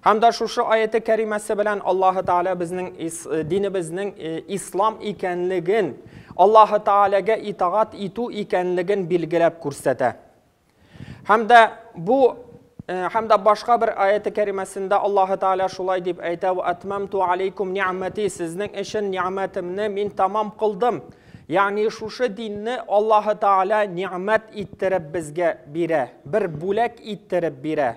Һәм дә шушы аяте кәримәсе белән Аллаһы Тәгалә безнең динебезнең ислам икәнлеген, Аллаһы Тәгаләгә итагать итү икәнлеген билгеләп күрсәтә. Һәм дә бу һәм дә башка бер аяте кәримәсендә Аллаһы Тәгалә шулай дип әйтә: "Ва атмамту алейкум ни'мати" Сезнең өчен ни'мәтемне мин тамам кылдым. Ягъни шушы динне Аллаһы Тәгалә ни'мәт иттереп безгә бирә, бер бүләк иттереп бирә.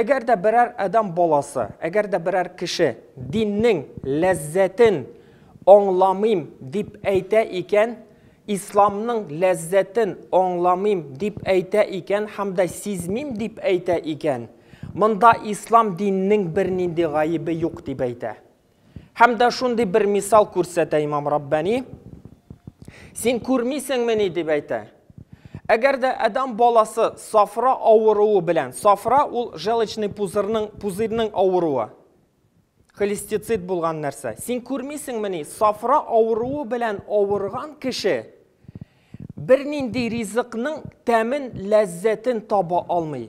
Әгәр дә берәр адәм баласы, әгәр дә берәр кеше диннең ләззәтен аңламыйм дип әйтә икән, исламның ләззәтен аңламыйм дип әйтә икән һәм дә сизмим дип әйтә икән, монда ислам диненең бернинди гаебе юк дип әйтә. Һәм дә шундый бер мисал күрсәтә имам Раббани. Син күрмисеңмени дип әйтә. Әгәр дә адам баласы сафра авыруы белән, сафра ул желчный пузырьның пузырьның авыруы. Холестицит булган нәрсә. Син күрмисеңмени, сафра авыруы белән авырган кеше бернинди ризыкның тәмен, ләззәтен таба алмый.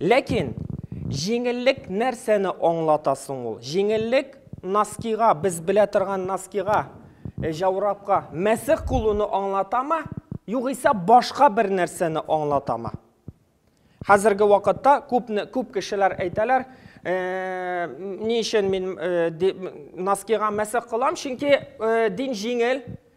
Ләкин җиңеллек нәрсәне аңлата соң ул? Җиңеллек носкига, без белә торган носкига, э, җаурапка, мәсех кылуны аңлатамы? Югыйсә башка бер нәрсәне аңлатамы? Хәзерге вакытта күп күп кешеләр әйтәләр, э, ни өчен мин э, носкига мәсех кылам, чөнки э, дин җиңел,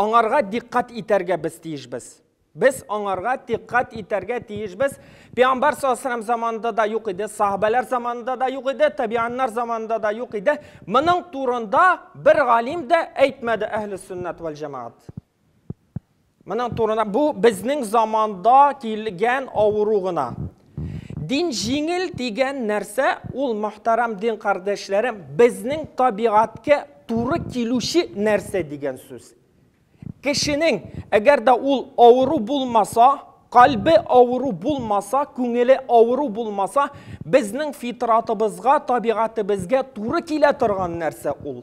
Аңарга диккать итәргә без тиешбез. Без аңарга диккать итәргә тиешбез. Пәйгамбәр саллаллаху заманында да юк иде, сахабәләр заманында да юк иде, табианнар заманында да юк иде. Моның турында бер галим дә әйтмәде әһле сөннәт вәл җәмәгат. Моның турында бу безнең заманда килгән авыру гына. Дин җиңел дигән нәрсә ул мохтарам дин кардәшләрем безнең табигатькә туры килүче нәрсә дигән сүз. Кешенең, әгәр дә ул авыру булмаса, кальбе авыру булмаса, күңеле авыру булмаса, безнең фитратыбызга, табигатебезгә туры килә торган нәрсә ул.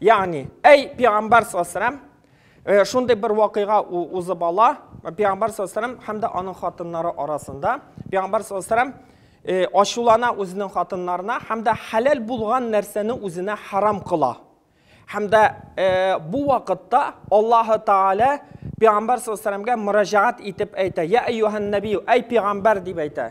Ягъни, әй пәйгамбәр саллаллаху э, шундый бер вакыйга узып ала, пәйгамбәр саллаллаху һәм дә аның хатыннары арасында. Пәйгамбәр саллаллаху э, ачулана үзенең хатыннарына һәм дә хәләл булган нәрсәне үзенә харам кыла. Һәм дә э, бу вакытта Аллаһы Тааля пәйгамбәр саллаллаху алейһи мөрәҗәгать итеп әйтә: "Я әйюһән нәбию, әй пәйгамбәр" дип әйтә.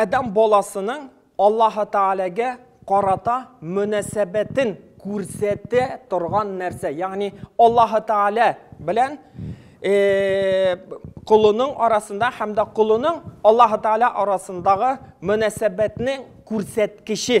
Адәм баласының Аллаһы Тәгаләгә карата мөнәсәбәтен күрсәтә торган нәрсә. Ягъни Аллаһы Тәгалә белән колының арасында һәм дә колының Аллаһы Тәгалә арасындагы мөнәсәбәтнең күрсәткече.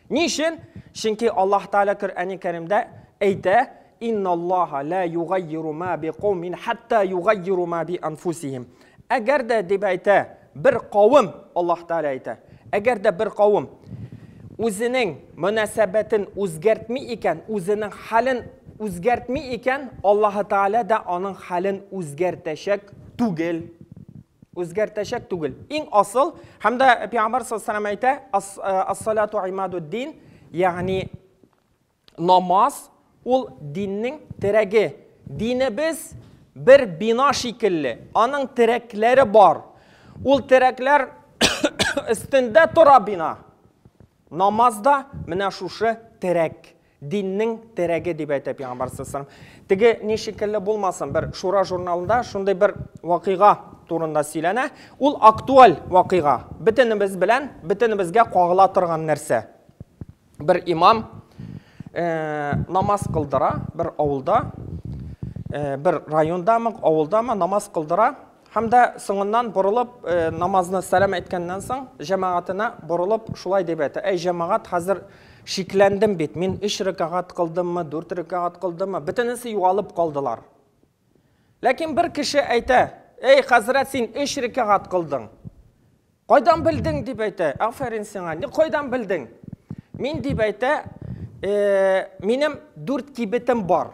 Ни өчен? Чөнки Аллаһ Тәгалә Коръәни Кәримдә әйтә, Инналлаһа лә югаййиру мә бикаумин хәттә югаййиру мә бианфусихим. Әгәр дә, дип әйтә, бер кавем, Аллаһ Тәгалә әйтә, әгәр дә бер кавем үзенең мөнәсәбәтен үзгәртми икән, үзенең хәлен үзгәртми икән, Аллаһы Тәгалә дә аның хәлен үзгәртәчәк түгел. Үзгәртәчәк түгел. Иң асыл, һәм дә Пәйгамбәр саллаллаху әйтә, ас-салату э, имадуд дин, ягъни намаз ул диннең терәге. Динебез бер бина шикелле, аның терәкләре бар. Ул терәкләр өстендә тора бина. Намаз да менә шушы терәк, диннең терәге дип әйтә Пәйгамбәр саллаллаһу Теге ни шикелле булмасын, бер Шура журналында шундый бер вакыйга турында сөйләнә. Ул актуаль вакыйга, бөтенебез белән, бөтенебезгә кагыла торган нәрсә. Бер имам намаз кылдыра бер авылда, бер райондамы, авылдамы намаз кылдыра. Һәм дә соңыннан борылып, намазны сәлам әйткәннән соң, җәмәгатенә борылып, шулай дип әйтә, Әй җәмәгать, хәзер шикләндем бит, мин өч рәкәгать кылдыммы, дүрт рәкәгать кылдыммы, бөтенесе югалып калдылар. Ләкин бер кеше әйтә, Әй хәзрәт, син өч рәкәгать кылдың. Кайдан белдең, дип әйтә, Афәрин сиңа, ни кайдан белдең? Мин, дип әйтә, минем дүрт кибетем бар.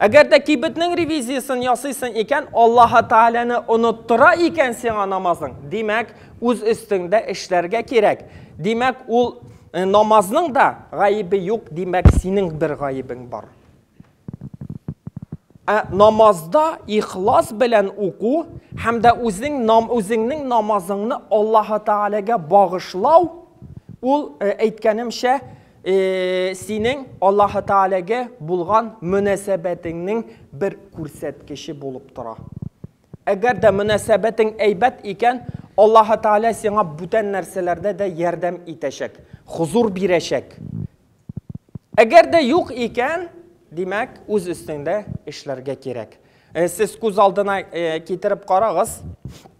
Әгәр дә кибетнең ревизиясен ясыйсың икән, Аллаһы Тәгаләне оныттыра икән сиңа намазың, димәк, үз өстеңдә эшләргә кирәк. Димәк, ул э, намазның да гаебе юк, димәк, синең бер гаебең бар. Ә намазда ихлас белән уку һәм дә үзең нам, үзеңнең намазыңны Аллаһы Тәгаләгә багышлау ул э, әйткәнемчә Э, синең Аллаһы Тәгаләгә булган мөнәсәбәтеңнең бер күрсәткече булып тора. Әгәр дә мөнәсәбәтең әйбәт икән, Аллаһы Тәгалә сиңа бүтән нәрсәләрдә дә ярдәм итәчәк, хозур бирәчәк. Әгәр дә юк икән, димәк, үз өстеңдә эшләргә кирәк. Э, сез күз алдына э, китереп карагыз.